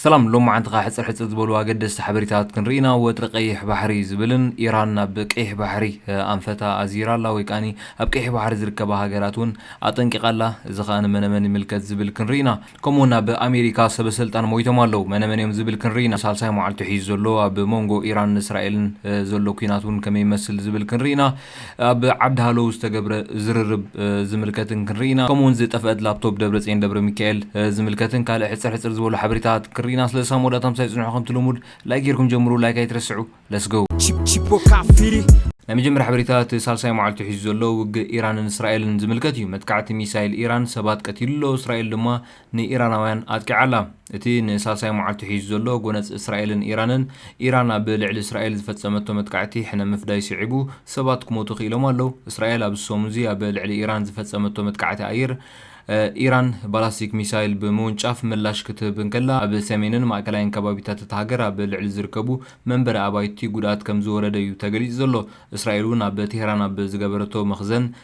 ሰላም ሎምዓንትኻ ሕጽር ሕጽር ዝበሉ ኣገደስቲ ሓበሬታት ክንርኢ ኢና ወጥሪ ቀይሕ ባሕሪ ዝብልን ኢራን ናብ ቀይሕ ባሕሪ ኣንፈታ ኣዚራ ኣላ ወይ ከኣ ኣብ ቀይሕ ባሕሪ ዝርከባ ሃገራት ውን ኣጠንቂቃ ኣላ እዚ ከኣ ንመነመን ይምልከት ዝብል ክንርኢ ኢና ከምኡ ውን ኣብ ኣሜሪካ ሰበሰልጣን ሞይቶም ኣለው መነመን እዮም ዝብል ክንርኢ ኢና ሳልሳይ መዓልቱ ሒዙ ዘሎ ኣብ ሞንጎ ኢራንን እስራኤልን ዘሎ ኲናት ውን ከመይ ይመስል ዝብል ክንርኢ ኢና ኣብ ዓዲ ሃለው ዝተገብረ ዝርርብ ዝምልከትን ክንርኢ ኢና። ከምኡ'ውን ዝጠፈኣት ላፕቶፕ ደብረጽየን ደብረሚካኤል ዝምልከትን ካልእ ሕጽር ሕጽር ዝበሉ ሓበሬታታት ክንርኢ ኢና። ስለዚ ሳብ መወዳእታ ምሳይ ጽንሑ ከምቲ ልሙድ ላይክ ጌርኩም ጀምሩ ላይክ ኣይትረስዑ Let's go! Chipo Kafiri። ናይ መጀመርያ ሓበሬታ እቲ ሳልሳይ መዓልቱ ሒዙ ዘሎ ውግእ ኢራንን እስራኤልን ዝምልከት እዩ። መጥቃዕቲ ሚሳይል ኢራን ሰባት ቀቲሉ'ሎ፣ እስራኤል ድማ ንኢራናውያን ኣጥቂዓ ኣላ። እቲ ንሳልሳይ መዓልቱ ሒዙ ዘሎ ጎነጽ እስራኤልን ኢራንን፣ ኢራን ኣብ ልዕሊ እስራኤል ዝፈጸመቶ መጥቃዕቲ ሕነ ምፍዳይ ስዒቡ ሰባት ክሞቱ ክኢሎም ኣለዉ። እስራኤል ኣብዚ ሰሙን'ዚ ኣብ ልዕሊ ኢራን ዝፈጸመቶ መጥቃዕቲ ኣየር፣ ኢራን ባላስቲክ ሚሳይል ብምውንጫፍ ምላሽ ክትህብ እንከላ፣ ኣብ ሰሜንን ማእከላይን ከባቢታት እታ ሃገር ኣብ ልዕሊ ዝርከቡ መንበሪ ኣባይቲ ጉድኣት ከምዝወረደ'ዩ ተገሊጹ ዘሎ። እስራኤል'ውን ኣብ ቴህራን ኣብ ዝገበረቶ መኽዘን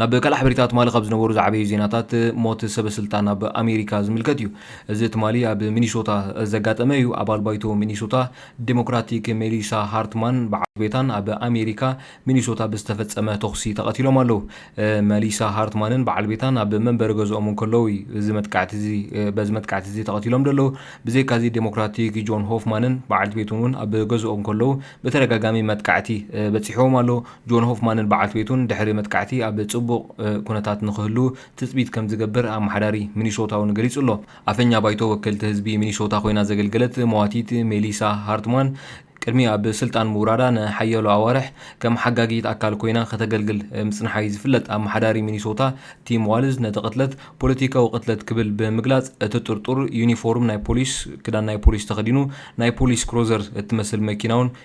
ናብ ካልእ ሓበሬታ ትማሊ ካብ ዝነበሩ ዝዓበዩ ዜናታት ሞት ሰበ ስልጣን ኣብ ኣሜሪካ ዝምልከት እዩ። እዚ ትማሊ ኣብ ሚኒሶታ ዘጋጠመ እዩ። ኣባል ባይቶ ሚኒሶታ ዴሞክራቲክ ሜሊሳ ሃርትማን በዓልቲ ቤታን ኣብ ኣሜሪካ ሚኒሶታ ብዝተፈጸመ ተኹሲ ተቐቲሎም ኣለዉ። መሊሳ ሃርትማንን በዓል ቤታን ኣብ መንበሪ ገዝኦም እንከለዉ እዩ እዚ መጥቃዕቲ እዚ በዚ መጥቃዕቲ እዚ ተቐቲሎም ዘለዉ። ብዘይካዚ ዴሞክራቲክ ጆን ሆፍማንን በዓልቲ ቤቱን እውን ኣብ ገዝኦም ከለዉ ብተደጋጋሚ መጥቃዕቲ በጺሕዎም ኣሎ። ጆን ሆፍማንን በዓልቲ ቤቱን ድሕሪ መጥቃዕቲ ኣብ ጽቡቕ ኩነታት ንኽህልዉ ትጽቢት ከም ዝገብር ኣመሓዳሪ ሚኒሶታ እውን ገሊጹ ኣሎ። ኣፈኛ ባይቶ ወከልቲ ህዝቢ ሚኒሶታ ኮይና ዘገልገለት መዋቲት ሜሊሳ ሃርትማን ቅድሚ ኣብ ስልጣን ምውራዳ ንሓያሎ ኣዋርሕ ከም ሓጋጊት ኣካል ኮይና ከተገልግል ምጽንሓ'ዩ ዝፍለጥ። ኣመሓዳሪ ሚኒሶታ ቲም ዋልዝ ነቲ ቅትለት ፖለቲካዊ ቅትለት ክብል ብምግላጽ እቲ ጥርጡር ዩኒፎርም ናይ ፖሊስ፣ ክዳን ናይ ፖሊስ፣ ተኸዲኑ ናይ ፖሊስ ክሮዘር እትመስል መኪና'ውን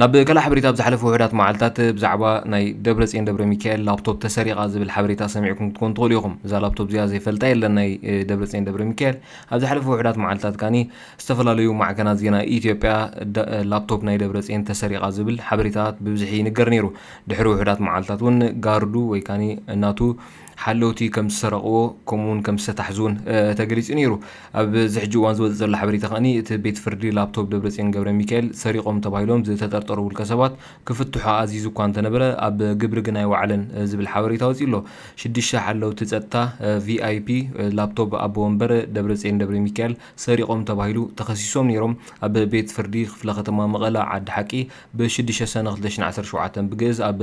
ናብ ካልእ ሓበሬታ ኣብ ዝሓለፉ ውሑዳት መዓልታት ብዛዕባ ናይ ደብረጽዮን ደብረሚካኤል ላፕቶፕ ተሰሪቓ ዝብል ሓበሬታ ሰሚዕኩም ክትኮኑ ትኽእሉ ኢኹም። እዛ ላፕቶፕ እዚኣ ዘይፈልጣ የለን ናይ ደብረጽዮን ደብረሚካኤል። ኣብ ዝሓለፉ ውሑዳት መዓልታት ከኣኒ ዝተፈላለዩ ማዕከናት ዜና ኢትዮጵያ ላፕቶፕ ናይ ደብረጽዮን ተሰሪቓ ዝብል ሓበሬታታት ብብዝሒ ይንገር ነይሩ። ድሕሪ ውሑዳት መዓልታት እውን ጋርዱ ወይ ከኣ ናቱ ሓለውቲ ከም ዝሰረቕዎ ከምኡውን ከም ዝተታሕዙ እውን ተገሊጹ ነይሩ። ኣብዚ ሕጂ እዋን ዝወጽእ ዘሎ ሓበሬታ ከኣ እቲ ቤት ፍርዲ ላፕቶፕ ደብረጽዮን ገብረሚካኤል ሰሪቖም ተባሂሎም ዝተጠርጠሩ ውልቀ ሰባት ክፍትሑ ኣዚዙ እኳ እንተነበረ ኣብ ግብሪ ግን ኣይወዓለን ዝብል ሓበሬታ ወጺኡ ኣሎ። ሽዱሽተ ሓለውቲ ጸጥታ VIP ላፕቶፕ ኣቦ ወንበር ደብረጽዮን ደብረሚካኤል ሰሪቖም ተባሂሉ ተኸሲሶም ነይሮም ኣብ ቤት ፍርዲ ክፍለ ከተማ መቐለ ዓዲ ሓቂ ብ ሽዱሽተ ሰነ ክልተ ሽሕን ዓሰርተ ሸውዓተን ብግእዝ ኣብ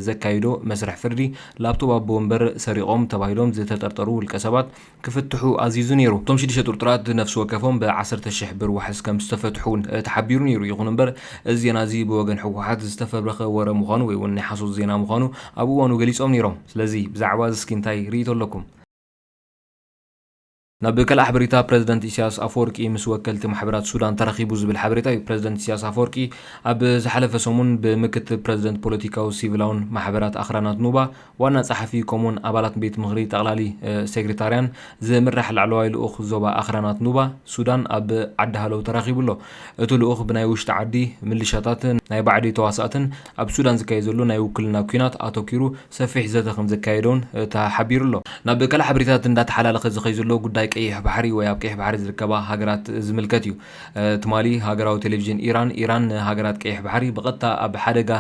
ዘካይዶ መስርሕ ፍርዲ ላፕቶብ ኣቦ ወንበር ሰሪቖም ተባሂሎም ዝተጠርጠሩ ውልቀ ሰባት ክፍትሑ ኣዚዙ ነይሩ። እቶም ሽዱሽተ ጥርጡራት ነፍሲ ወከፎም ብ ዓሰርተ ሽሕ ብር ዋሕስ ከም ዝተፈትሑ እውን ተሓቢሩ ነይሩ። ይኹን እምበር እዚ ዜና እዚ ብወገን ህወሓት ዝተፈብረኸ ወረ ምዃኑ ወይ እውን ናይ ሓሶት ዜና ምዃኑ ኣብ እዋኑ ገሊፆም ነይሮም። ስለዚ ብዛዕባ እዚ እስኪ እንታይ ርኢቶ ኣለኩም? ናብ ካልእ ሓበሬታ ፕረዚደንት ኢሳያስ ኣፈወርቂ ምስ ወከልቲ ማሕበራት ሱዳን ተራኺቡ ዝብል ሓበሬታ እዩ። ፕረዚደንት ኢሳያስ ኣፈወርቂ ኣብ ዝሓለፈ ሰሙን ብምክትል ፕረዚደንት ፖለቲካዊ ሲቪላውን ማሕበራት ኣኽራናት ኑባ ዋና ጸሓፊ ከምኡውን ኣባላት ቤት ምኽሪ ጠቕላሊ ሴግሪታርያን ዝምራሕ ላዕለዋይ ልኡኽ ዞባ ኣኽራናት ኑባ ሱዳን ኣብ ዓዲ ሃለው ተራኺቡ ኣሎ። እቲ ልኡኽ ብናይ ውሽጢ ዓዲ ምልሻታትን ናይ ባዕዲ ተዋሳእትን ኣብ ሱዳን ዝካየድ ዘሎ ናይ ውክልና ኲናት ኣተኲሩ ሰፊሕ ዘተ ከምዘካየደ'ውን ተሓቢሩ'ሎ። ናብ ካልእ ሓበሬታታት እንዳተሓላለኸ ዝኸይ ዘሎ ጉዳይ ቀይሕ ባሕሪ ወይ ኣብ ቀይሕ ባሕሪ ዝርከባ ሃገራት ዝምልከት እዩ። ትማሊ ሃገራዊ ቴሌቪዥን ኢራን፣ ኢራን ንሃገራት ቀይሕ ባሕሪ ብቐጥታ ኣብ ሓደጋ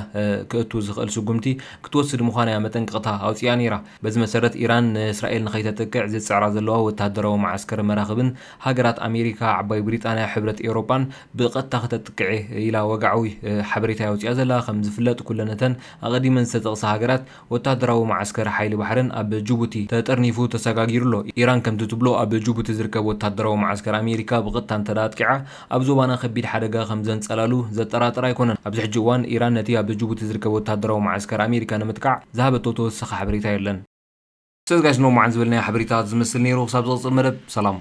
ከእቱ ዝኽእል ስጉምቲ ክትወስድ ምዃና'ያ መጠንቀቕታ ኣውጺኣ ነይራ። በዚ መሰረት ኢራን ንእስራኤል ንኸይተጥቅዕ ዝጽዕራ ዘለዋ ወተሃደራዊ መዓስከርን መራኽብን ሃገራት ኣሜሪካ፣ ዓባይ ብሪጣንያ፣ ሕብረት ኤውሮጳን ብቐጥታ ክተጥቅዕ'የ ኢላ ወግዓዊ ሓበሬታ'ያ ኣውጺኣ ዘላ። ከም ዝፍለጥ ኩለን'ተን ኣቐዲመን ዝተጠቕሳ ሃገራት ወተሃደራዊ መዓስከር ሓይሊ ባሕረን ኣብ ጁቡቲ ተጠርኒፉ ተሰጋጊሩ ኣሎ። ኢራን ከምቲ ትብሎ ኣብ ጁቡቲ ዝርከብ ወተሃደራዊ መዓስከር ኣሜሪካ ብቐጥታ እንተድኣ ኣጥቂዓ ኣብ ዞባና ከቢድ ሓደጋ ከም ዘንጸላሉ ዘጠራጥር ኣይኮነን። ኣብዚ ሕጂ እዋን ኢራን ነቲ ኣብ ጁቡቲ ዝርከብ ወተሃደራዊ መዓስከር ኣሜሪካ ንምጥቃዕ ዝሃበቶ ተወሳኺ ሓበሬታ የለን። ሰዝጋሽ ንሎሚ መዓልቲ ዝበልናዮ ሓበሬታታት ዝመስል ነይሩ ክሳብ ዝቕጽል መደብ ሰላም።